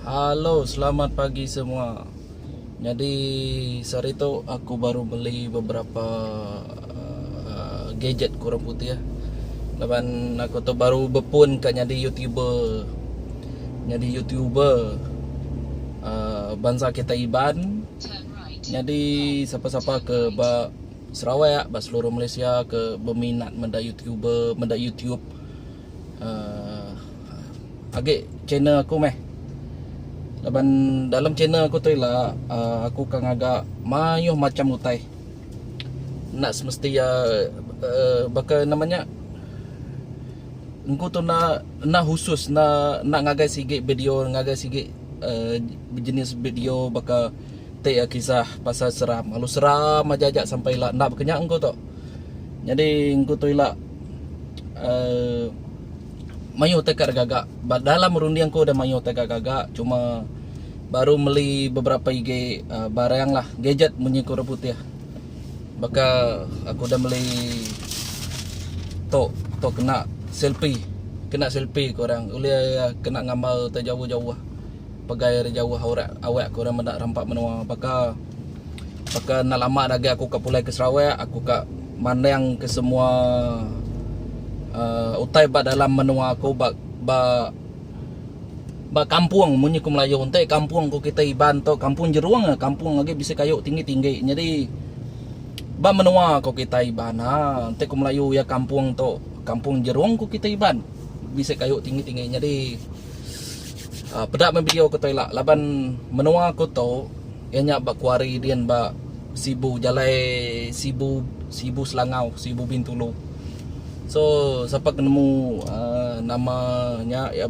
Halo, selamat pagi semua. Nyadi sehari tu aku baru beli beberapa gadget ke orang putih laban aku tu baru bepun ka nyadi youtuber nyadi youtuber uhh bansa kita iban nyadi sapa sapa ke ba sarawak ba seluruh malaysia ke beminat meda youtuber meda youtube uhh agi channel aku meh laban dalam channel aku tu ila uhh aku ka ngaga maioh macam utai. enda semesti iya uhh baka nama nya engku tu enda enda khusus enda enda ngagai sigi video ngagai sigi uhh bejenis video baka ti iya kisah pasal seram lalu seram aja aja sampai ila enda baka nya engku tu. Nyadi engku tu ila uhh mayuh teka gaga ba dalam runding aku udah mayuh teka gaga cuma baru meli beberapa igi uh, barang lah gadget munyi ku orang putih baka aku udah meli tok tok kena selfie kena selfie ku orang ulih uh, kena ngambar te jauh-jauh pegai ari jauh orang awak ku orang meda rampa menua baka Baka enda lama dah agi aku ka pulai ke Sarawak, aku ka mandang ke semua uhh utai ba dalam menua aku ba ba ba kampung munyi ku melayu enti kampung ku kitai Iban tu kampung jerung ah kampung agi bisi kayu tinggi-tinggi nyadi ba menua ku kitai Iban uhh enti ku melayu iya kampung tu kampung jerung ku kitai Iban bisi kayu tinggi-tinggi nyadi uhh peda meh video ku tu ila laban menua ku tu. Iya nya ba kuari din ba Sibu, jalai Sibu Sibu Selangau, Sibu Bintulu. So sapa ke nemu uhh nama nya iya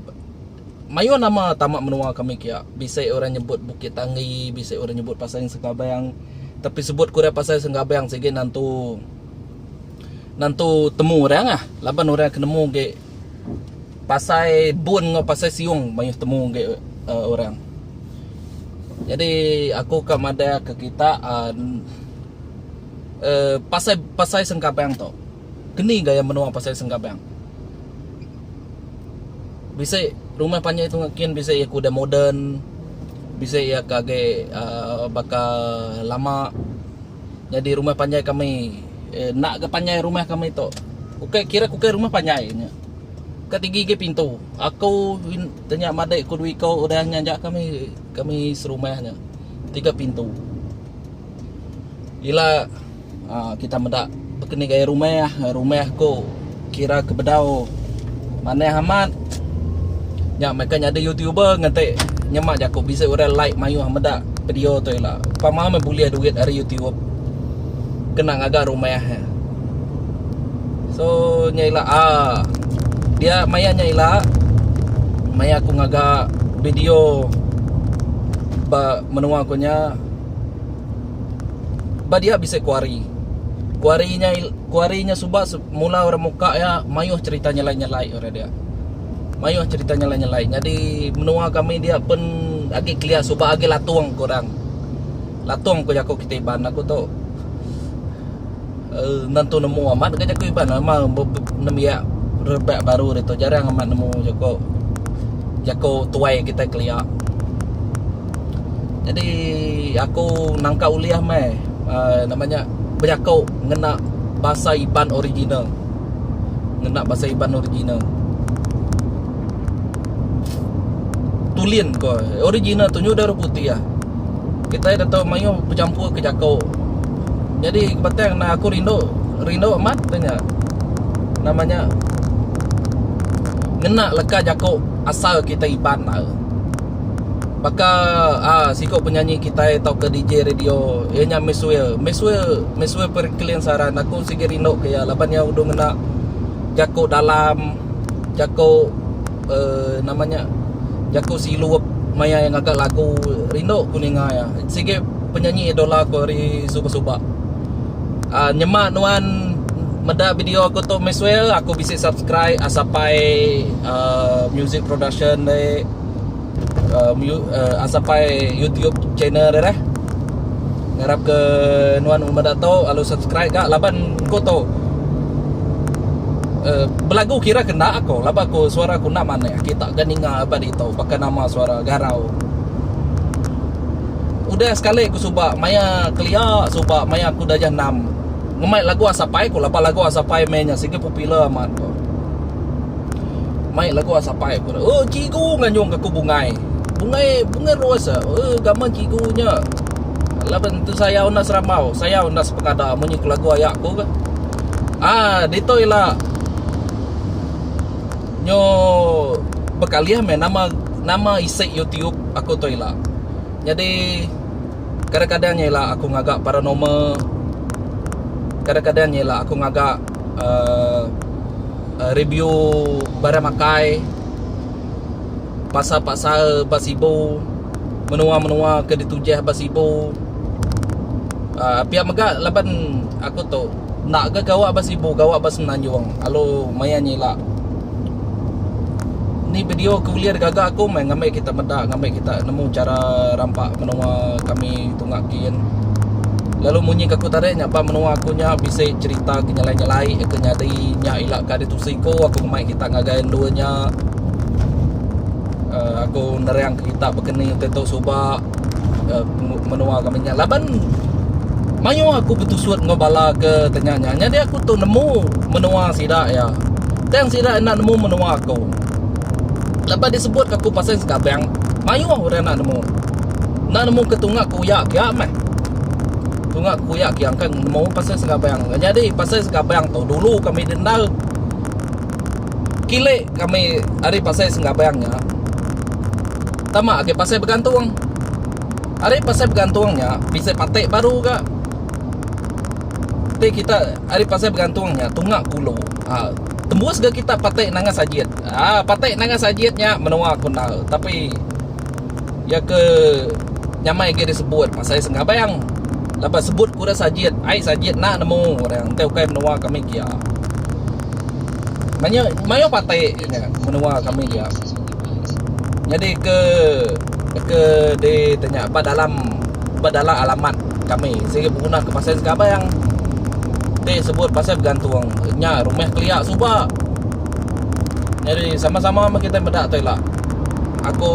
mayuh nama tama menua kami kia. Bisi orang nyebut Bukit Tanggi, bisi orang nyebut Pasang Sengkabang. Tapi sebut ku orang Pasang Sengkabang sigi nantu nantu temu orang ah laban orang ke nemu agi pasai bun enggau pasai siung mayuh temu agi orang. Jadi aku ka madahka kita uhh pasai pasai sengkabang tu keni gaya menua pasai sengkabang. Bisi rumah panjai tu kin bisi iya ke udah moden bisi iya ke agi uhh baka lama. Nyadi rumah panjai kami enda ga panjai rumah kami tu. Ukai kira ke ukai rumah panjai nya. Ka tigi agi pintu. Aku tanya madik ku dua iku udah nya aja kami kami serumah nya. Tiga pintu. Ila kita meda bekeni gaya rumah, rumah ku. Kira ke bedau manah amat. Nya meh ke nyadi youtuber ngenti nyema jaku bisi orang like mayuh meda video tu ila. Pama meh bulih duit ari youtube kena ngaga rumah. So nya ila aa dia maya nya ila maya aku ngaga video ba menua aku nya ba dia bisi kuari. Kuari nya ila. Ku ari nya suba mula orang muka iya mayuh cherita nyelai-nyelai orang dia. Mayuh cherita nyelai-nyelai. Nyadi menua kami dia pun agi kelia suba agi latung ku orang. Latung ku jaku kita Iban aku tu. Uh, nentu nemu amat ke jaku Iban ama nembiak rebak baru ditu jarang amat nemu jaku jaku tuai kita kelia. Nyadi aku nangka ulih meh uh, nama nya bejaku ngena basa Iban original. Ngena basa Iban original. Tulin ko original tu nyudah ruku ti ah. Kita dah tahu mayu bercampur ke jako. Jadi batang na aku rindu rindu amat tanya. Namanya ngena leka jako asal kita Iban lah. baka aaa siku penyanyi kitai tauka DJ radio iya nya Misswell, Misswell, Misswell Perikilin Saran aku sigi rindu ka iya laban iya udah ngena jaku dalam, jaku uhh nama nya jaku silup maya iya ngaga lagu rindu ku ninga iya. Sigi penyanyi idola ku ari suba suba. Aaa nyema nuan meda video aku tu Misswell aku bisi subscribe sapai aaa music production deh. um, you, uh, Asapai YouTube channel dia dah. Ngarap ke nuan rumah dato lalu subscribe gak laban ko to. Uh, belagu kira kena aku laban aku suara aku nak mana kita ke ninga apa di to pakai nama suara garau. Udah sekali aku suba maya kelia suba maya aku dah jenam. Ngemai lagu Asapai aku laban lagu Asapai mainnya sigi popular amat. Ko. Mai lagu asapai aku dah. Oh cigu nganyung aku bungai. Bungai bungai luas ah. Oh gaman cigu nya. Laban tu sayau enda seramau, sayau enda sepengada munyi ku lagu aya aku ke. Ah ditu ila nyo bekalih meh nama nama isi YouTube aku tu ila. Nyadi kadang-kadang ila aku ngaga paranormal, kadang-kadang ila aku ngaga uhh review barang makai pasar pasar ba sibu menua menua ke ditujih ba sibu uhh pia mega laban aku tu enda ga gawa ba sibu gawa ba semenanjung lalu maya nyilak ni video ke ulih digaga aku meh ngambi kita meda ngambi kita nemu chara rampa menua kami. tunga kin lalu munyi ka aku tarik nya ba menua aku nya bisi cerita ke nyelai-nyelai ke nyadi nya ila ka di tusi ku aku ngemai kita ngagai endur nya uh aku nerang ke kita bekeni te tu suba uh menua kami nya laban mayuh aku betusut enggau bala ke tanya nya nyadi aku tu nemu menua sida iya tang sida enda nemu menua aku laban disebut ka aku pasai Segabang mayuh orang enda nemu. Enda nemu ke tunga ke uya kia meh. Tunga ke uya kia engka nemu pasai segabang. Nyadi pasai segabang tu dulu kami dendar kile kami ari pasai segabang nya tama agi pasai begantung. Ari pasai begantung nya bisi pate baru ga. Ti kita ari pasai begantung nya tunga ke ulu. Ha tembus ga kita pate nanga sajit. Ha pate nanga sajit nya menua ke undau tapi iya ke nyamai agi ari sebut pasal iya senggabang laban ai sebut ku ida sajit ai sajit enda nemu orang enti ukai menua kami gia mayuh mayuh parti nya menua kami gia nyadi ke ke di tu nya ba dalam ba dalam alamat kami sigi benguna ke pasal senggabang ti sebut pasal begantung nya rumah kelia suba nyadi sama sama meh kita meda tu ila. aku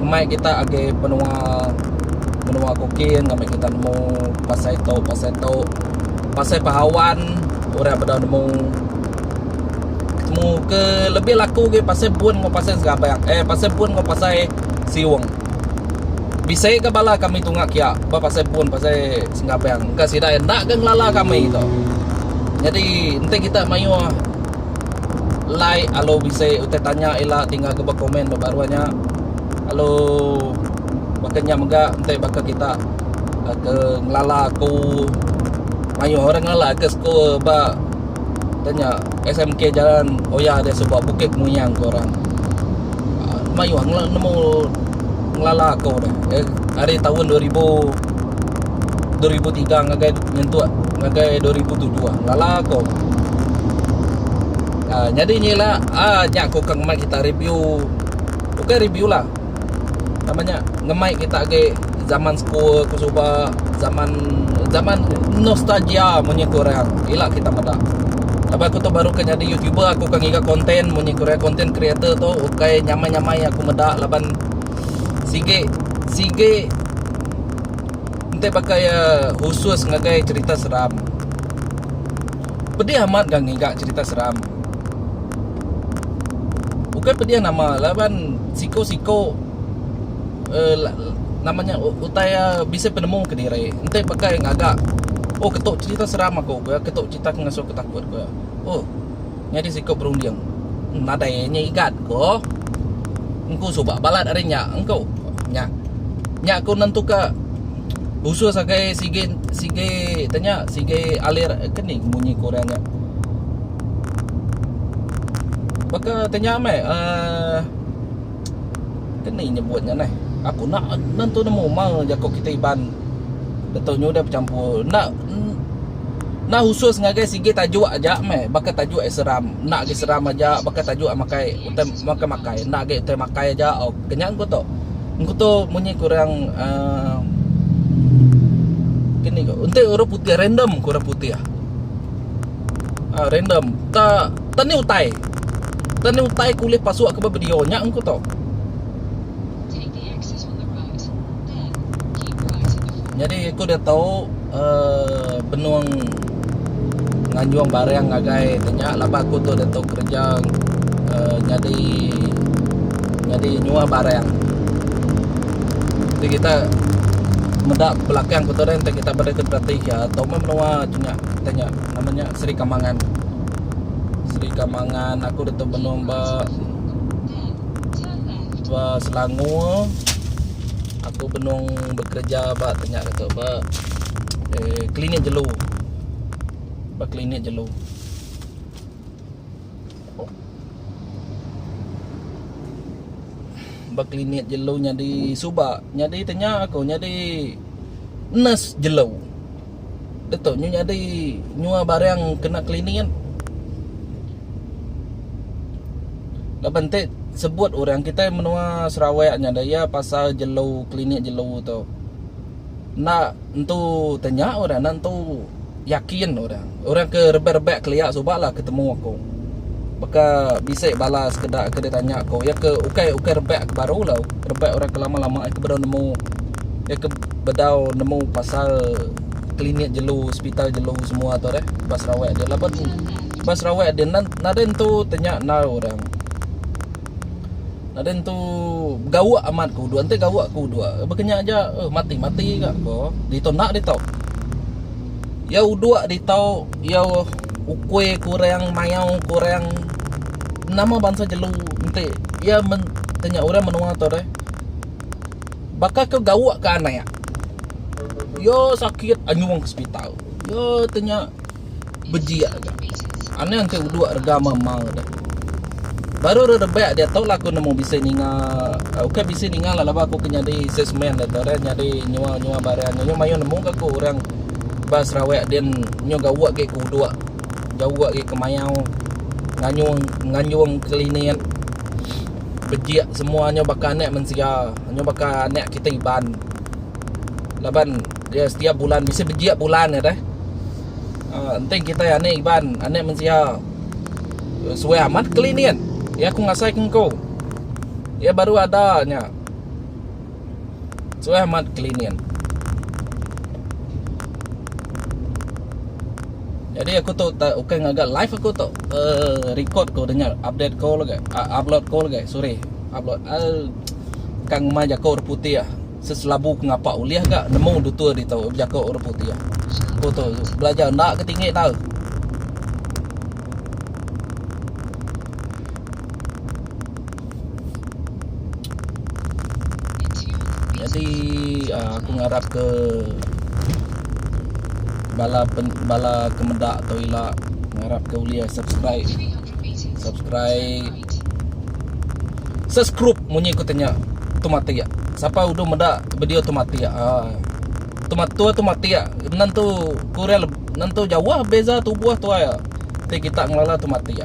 mai kita agi menua menua kukin ngambi kita nemu pasai tu pasai tu pasai pahawan orang beda nemu temu ke lebih laku agi pasai bun enggau pasai serabang eh pasai bun enggau pasai siung bisi ga bala kami tunga kia ba pasai bun pasai serabang engka sida enda ga ngelala kami tu jadi enti kita mayuh like alu bisi utai tanya ila ti ngaga ba komen ba baruh nya alu baka nya mega enti baka kita ke ngelala aku mayuh orang ngelala ke school ba utai nya SMK Jalan Oya dia suba Bukit Muyang ke orang mayuh nemu ngelala aku deh ari taun dua ribu dua ribu tiga ngagai nyentuk ngagai dua ribu tujuh ah lala ko ah nyadi nyi ila ah nya ko ke ngemai kita review bukai review lah nama nya ngemai kita agi zaman school ke suba zaman zaman nostalgia munyi ku orang ila kita meda laban aku tu baru ke nyadi youtuber aku ke ngiga content munyi ku orang content creator tu ukai nyamai nyamai aku meda laban sigi sigi Enti baka iya khusus ngagai cerita seram, pedih amat ga ngiga cerita seram. Ukai pedih nama laban siko-siko uhh nama nya utai iya bisi penemu kediri. Enti baka iya ngaga, oh ketu cerita seram aku, ketu cerita ke ngasuh aku takut. Uhh. Nyadi siku berunding. Nadai nya igat ko. Engku suba balat ari nya engku. Nya. Nya ko nentuka usus agai sigi sigi tanya sigi alir keni munyi ko orang nya. Baka tanya meh uh, keni nyebut nya neh. Aku nak nentu nemu mal jako kita Iban. Dato nyu udah becampur. Nak Nah khusus ngagai sigi tajuk aja meh baka tajuk ai seram enda agi seram aja baka tajuk ai makai utai makai makai enda agi utai makai aja ok kenya ku tu engku tu munyi ku orang uhh kini ko enti orang putih random ku orang putih uhh random ta ta ni utai ta ni utai ku ulih pasu ka ba video nya ku tu. Nyadi aku dah tau uhh benung nganjung barang ngagai ne nya laban aku tu dah tau kerja uhh nyadi nyadi nyuwa barang. Ti kita meda belakang aku tu deh enti kita beda kita ti iya tau meh menua ti nya kita nya nama nya Sri Kamangan. Sri Kamangan aku dah tau benung ba. ba Selangor aku benung bekereja ba tu nya tu ba eh, klinik jelu ba klinik jelu ba klinik jelu nyadi suba nyadi tanya aku nyadi nurse jelu Detok nyu nyadi nyua barang kena cleaning. Laban te sebut orang kitai menua Sarawak nya deh iya pasal jelu klinik jelu tu. Enda entu tanya orang enda entu yakin orang. Orang ke rebak-rebak kelia suba la ketemu aku. baka bisi bala sekeda ke ditanya aku iya ke ukai ukai rebak ke baru lo rebak orang ke lama lama ke bedau nemu iya ke bedau nemu pasal klinik jelu hospital jelu semua tu deh ba sarawak agi laban ba sarawak agi nadai entu ti nya enggau orang nadai entu gawa amat ku dua enti gawa ku dua baka nya aja mati mati ga ko ditu enda ditu iya udok ditu. Iya ukui ke orang mayau ke orang nama bansa jelu enti iya tanya orang menua tu deh baka ke gauk ke anak iya sakit anyung ke sepital iya tanya bejik aja anih enti uduk rega mema deh baru ira rebak diatu lah aku nemu bisi ninga ukai bisi ninga laban aku ke nyadi salesman diatu nyadi nyual nyual barang aja mayuh nemu ke aku orang. ba Sarawak din nyu gawa agi ke udok gawa agi ke mayau nganyung nganyung klinik bejik semua nyu baka anak mensia nyu baka anak kita Iban laban dia setiap bulan bisi bejik bulan nya deh aaa enti kita anak Iban anak mensia suai amat klinik iya ku ngasai ke ngku iya baru ada nya. Suah amat kelinin. Jadi aku tu tak ukai ngaga live aku tu. Uh, record ko dengar update ko lagi. Uh, upload ko lagi. Sorry. Upload. Uh, kang mai jako orang putih ah. Seselabu ngapa ulih ga nemu dutur di tau jako orang putih ah. Aku tu belajar ndak ke tinggi tau. Jadi aaa aku ngarapka bala pen bala ke meda tu ila ngarapka ulih subscribe subscribe subscrupe munyi ku tanya tu matik sapa uduh meda video tu matik aaa. Tua tu matik nentu kurang nentu jauh beza tubuh tua iya ti kita ngelala tu matik.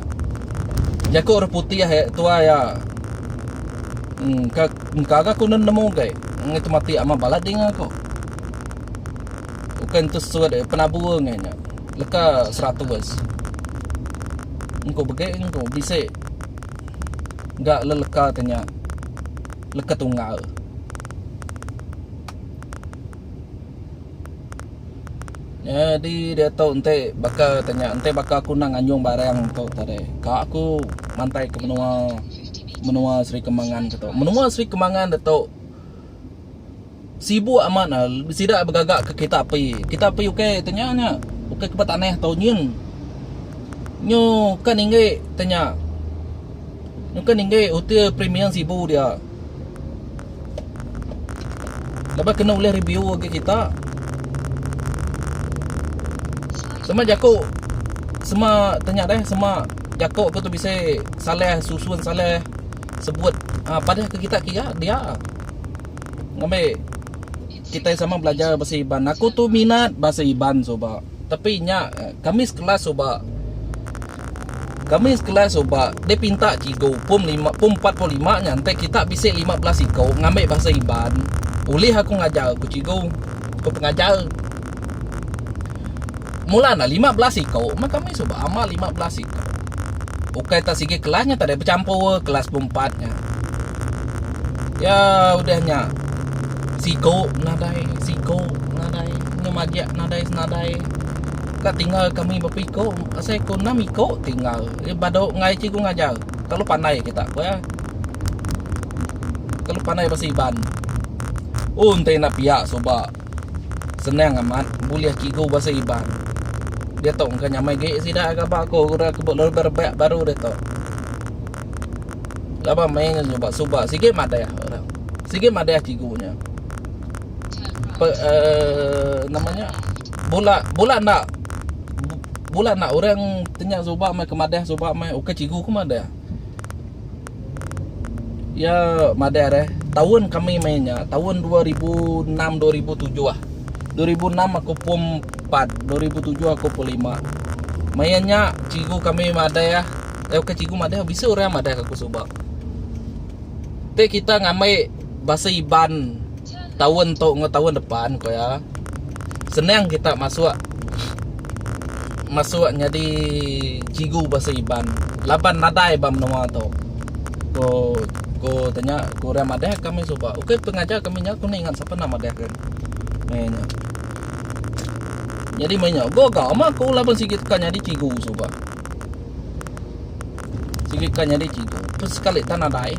Jaku orang putih tua iya engka engka ga ku nemu gai ngai tu matik amat balat ding aku. Ukai entu sut iya penabur ngai nya leka seratus engku begi engku bisi ga leleka ti nya leka tunggal. Nyadi diatu enti baka tanya enti baka aku nang nganyung barang tu tadi ka aku mantai ke menua menua Sri Kembangan tu. Menua Sri Kembangan ditu sibuk amat ne sida begaga ke kereta api. Kereta api ukai tanya nya ukai ke betanah tu nyin nyu kan inggi tanya nyu kan inggi utir premium sibu dia. Laban kena ulih review agi kita. Sema jaku sema tanya deh sema jaku aku tu bisi salah susun salah sebut ah padah ke kita kiya dia ngambi kita sama belajar bahasa iban. Aku tu minat bahasa iban suba tapi nya kami sekelas suba. Kami sekela suba dipinta cikgu pum lima pum empat puluh lima nyantai kita bisi lima belas iko ngambi bahasa Iban. Ulih aku ngajar, ku cikgu. Ku pengajar. Mula enda lima belas iko meh kami suba amat lima belas iko. Ukai tak sigi kelas nya tadi bechampur kelas pum empat nya. Ya udah nya siko nadai siko nadai nyemajak nadai senadai. Ka tinggal kami bapa iko asai ko enam iko tinggal nya bado ngai cikgu ngajar kalu pandai kita ko iya kalu pandai basa iban un tei enda pia suba senang amat bulih cikgu basa iban diatu engka nyamai agi sida ngaba ko udah ke berebak baru diatu laban mei nyuba suba sigi madah orang sigi madah cikgu nya. nama nya bula bula enda bula enda orang ti nya suba meh ke madah suba meh ukai cikgu ke madah iya madah re taun kami meh nya taun dua ribu enam dua ribu tujuh dua ribu enam aku pum empat dua ribu tujuh aku pum lima maya nya cikgu kami madah eh ukai cikgu madah bisi orang madah ke aku suba ti kita ngambi basa iban. taun tu enggau taun depan ku iya senang kita masuk masuk nyadi cikgu bahasa Iban laban nadai ba menua tu. Ku ku tanya ku orang madah ka meh suba. Ukai pengajar kami nya ku ninga sapa nama madah ke. Meh nya. Jadi meh nya gaga ama ku laban sigi teka nyadi cikgu suba. Sigi ka nyadi cikgu tu sekali tan nadai.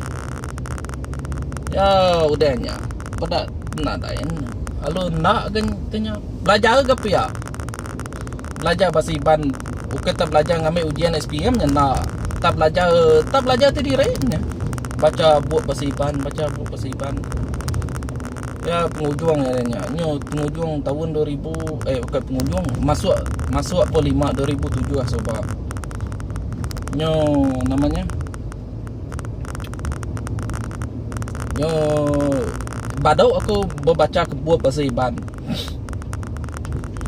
Ya udah nya. Peda nadai nya. Lalu enda gen tu nya. Belajar ga pia. Belajar bahasa Iban bukan tak belajar ngambi ujian SPM nya enda. Tak belajar tak belajar ti diri nya. Baca bup bahasa Iban, baca bup bahasa Iban. Ya pengujung ya nya. Nyu pengujung tahun 2000 eh bukan pengujung masuk masuk pun 5 2007 ah suba. Nyu namanya. Nyu badau aku bebaca ke bup bahasa Iban.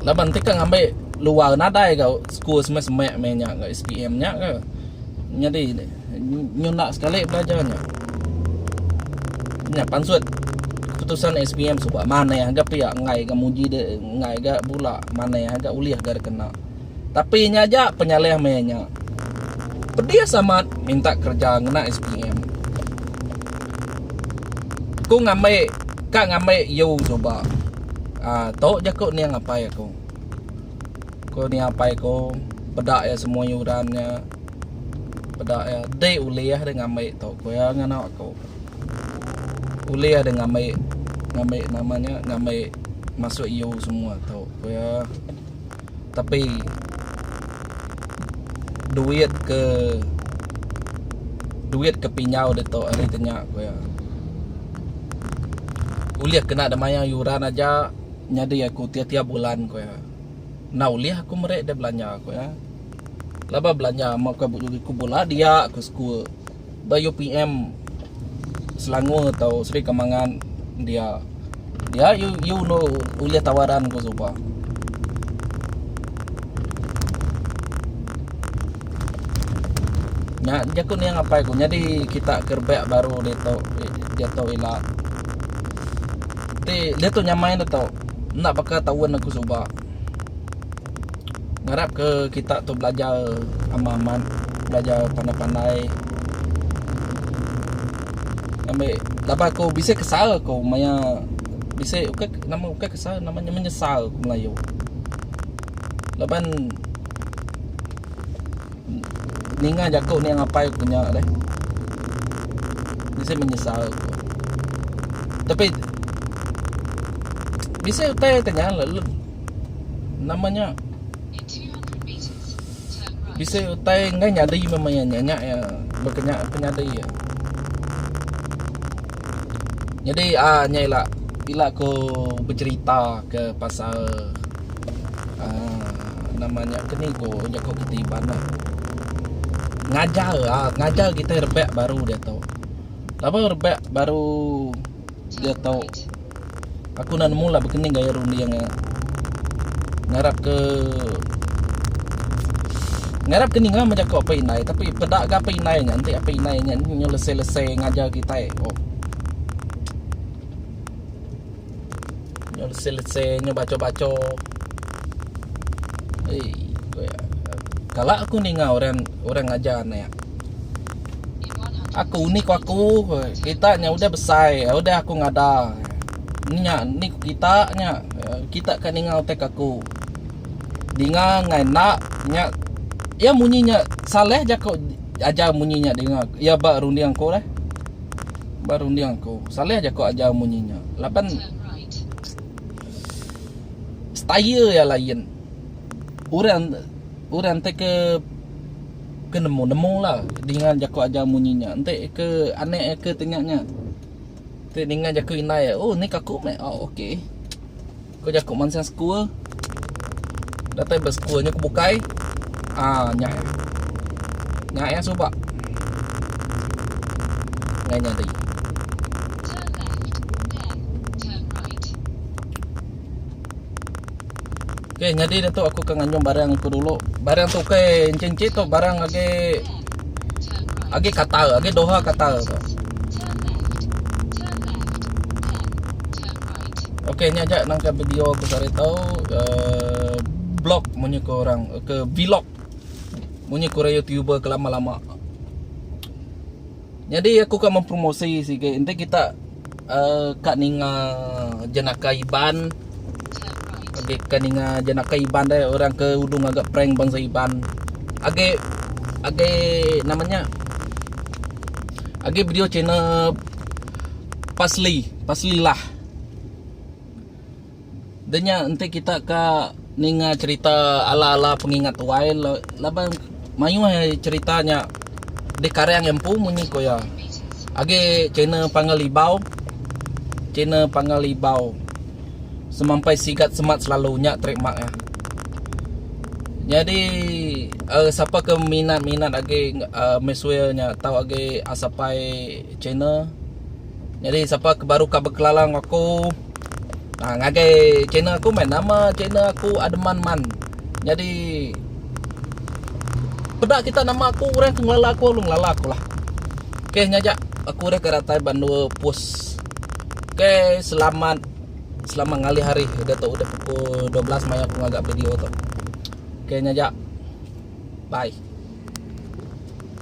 Laban ti ka ngambi luar nadai ga school semek-semek meh nya ga SPM nya ga. Nyadi. Nyunak sekali belajar nya. Nya pansut keputusan SPM suba manah ga pia enggai ga muji de enggai ga bula manah ga ulih ga dikena. Tapi nya aja penyalih meh nya. Pedis amat minta kereja ngena SPM. Ku ngambi ka ngambi U suba. Aaa tu jaku ning apai aku. Ko ni apai ko peda iya semua yuran nya peda iya dei ulih deh ngambi tu ko iya ngan anak ko. Ulih deh ngambi ngambi nama nya ngambi masuk iu semua tu ko iya tapi duit ke duit ke pinjau ditu ari ti nya ko iya. Ulih kena deh mayar yuran aja. Nyadi aku tiap-tiap bulan, ku iya. Enda ulih aku meri deh belanja, ku iya. Laban belanja meh bukai bujuh riku bula dia ku sekul ba UPM Selangor tau Sri Kemangan dia. Dia iya enda ulih tawaran, ku Suba. Nya jaku ning apai ku nyadi kita ke rebak baru ditu ditu ila. Ti ditu nyamai ditu enda baka taun aku suba. Ngarap ke kita tu belajar amat amat belajar pandai pandai ambi laban aku bisi kesal aku maya bisi ukai nama ukai kesal nama nya menyesal ku melayu. Laban Ninga jaku nia ngapai aku nya deh. Bisi menyesal aku. Tapi bisi utai ti nya lalu nama nya bisi utai enggai nyadi memang iya nya iya bekenya penyadi iya. Jadi aaa nya ila ila ku becerita ke pasal Uh, nama nya kenigo jaku keti bana. Ngajar ah, ngajar kita rebak baru dia tu. Laba rebak baru dia tu. Aku nak nemu lah bekening gaya runding ah. Ngarap ke Ngarap ke ninga macam ko apa indai tapi peda ga apa indai nya enti apa indai nya nyu lese-lese ngajar kita. Oh. Nyo lese lese nyo bacho bacho. Hei. Kala aku ninga orang orang ngajar anak. Aku ni ko aku kita nya udah besai udah aku ngada. Nya ni ko kita nya kita ka ninga utai kaku. Dinga ngai enda nya ya munyi nya salah jako ajar munyi nya dinga ya ba runding aku lah. Ba runding aku. Saleh jaku ajar munyi nya laban style iya lain. Orang orang ti ke ke nemu nemu lah dengan jaku ajar munyi nya. Enti ke anak ke tengah nya ti ninga jaku indai oh ni kaku meh oh ok. Ku jaku mansang sekul. Datai ba sekul nya ku bukai. Ah, nya eh. Nya eh suba. Ngai nyadi. Okey, nyadi dah tu aku ke nganjung barang aku dulu. Barang tu okey, encik-encik tu barang agi agi kata, agi doha kata tu. Okey nya aja nangka video aku sehari tau uh, blog munyi ke orang ke vlog munyi ke youtuber ke lama-lama. Jadi aku kan mempromosi sikit enti kita uh, kat ninga jenaka Iban Agi kan ninga jenaka Iban deh orang ke udung agak prank bangsa Iban. Agi agi namanya Agi video channel pasli pasli lah dah nya enti kita ka ninga cerita ala ala pengingat tuai laban mayuh aja cerita nya di karang empu munyi ku iya agi kena panggil ibau kena panggil ibau semampai sigat semat selalu nya trademark iya nyadi sapa ke minat minat agi mesuai nya tau agi asapai Channel Nyadi sapa ke baru ka bekelala enggau aku ha, ngagai channel aku mai nama channel aku Ademan Man. Nyadi peda kita nama aku orang ke ngelala aku lalu ngelala aku lah. Okey nya aja aku udah ke datai ban dua post. Okey selamat selamat ngalih hari udah tu udah pukul 12 mai aku ngaga video tu. Okey nya aja. Bye.